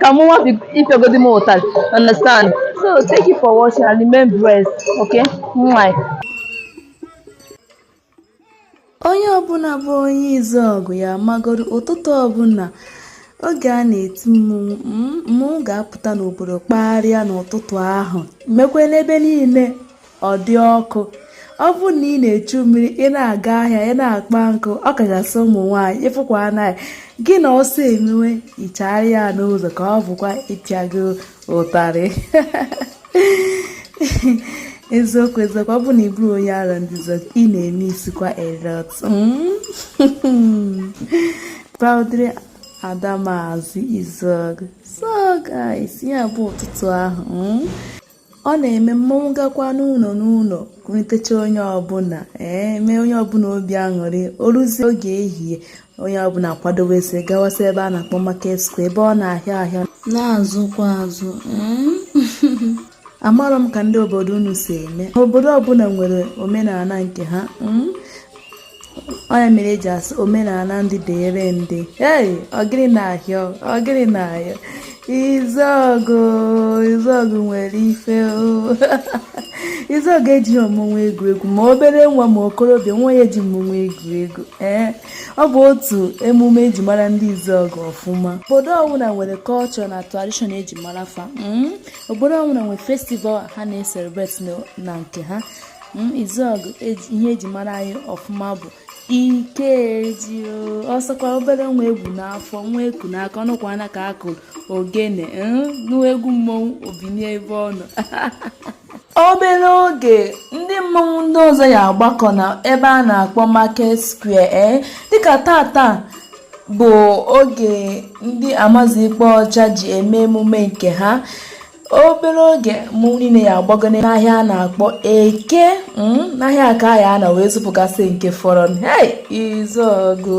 ka mmọnwụ ịpịagodi m ụtalị understand so thank you for watching and remain blessed okay mwah onye ọbụla bụ onye Izuọgụ ya magoro ụtụtụ ọbụla oge a na-eti mmọnwụ mmọnwụ ga-apụta n'obodo kpagharịa n'ụtụtụ ahụ mekwa n'ebe niile ọ dị ọkụ ọ bụrụ na ị na-echu mmiri ị na-aga ahịa ị na-akpa nkụ ọ kachasị ụmụ nwaanyị ị fụkwana ya gị na ọsọ emewe ị chaara ya n'ụzọ ka ọ bụkwa ịpịa gị ụtarị eziokwu eziokwu ọ bụ na ị bụrọ onye Arọndịzuọgụ ị na-emisskwa a lot proudly hmm. Ada Mazị Izuọgụ so guys ya bụ ụtụtụ ahụ hmm. ọ na-eme mmọnwụ gakwa n'ụlọ n'ụlọ kwurịtacha onye ọbụla ee mee onye ọbụla obi aṅụrị o ruzie oge ehihie onye ọbụla akwadowezi gawasị ebe a na-akpọ market square ebe ọ na-ahịa ahịa na-azụkwa azụ amarọ m ka ndị obodo unu si eme obodo ọbụla nwere omenala nke ha ọ nya mere eji asị omenala ndị dịrị ndị ei ọ gịrị na-ahịọ ọ gịrị na-ahịọ Izuọgụ Izuọgụ nwere ife Izuọgụ ejighị mmọnwụ egwu egwu ma obere nwa ma okorobịa nwa ya eji mmọnwụ egwu egwu ee ọ bụ otu emume eji mara ndị Izuọgụ ọfụma obodo ọbụla nwere culture na tradition eji mara fa hmm? obodo ọbụla nwere festival ha na-ecelebrate na nke ha Izuọgụ e ihe eji mara anyị ọfụma bụ Ikeji ọ sọkwa obere nwa e bu n'afọ nwa e ku n'aka ọ nụkwana ka a kụrụ ogene na egwu mmọnwụ o binie ebe ọ nọ obere oge ndị mmọnwụ ndị ọzọ ya agbakọ na ebe a na-akpọ market square ee eh? dịka taata bụ oge ndị Amazu Ikpa Ọcha ji eme emume nke ha obere oge mmọnwụ niile ya agbago n'ahịa a na-akpọ Eke hmm, n'ahịa a ka a ya-anọ wee zụpụgasị nke fọrọ hey Izuọgụ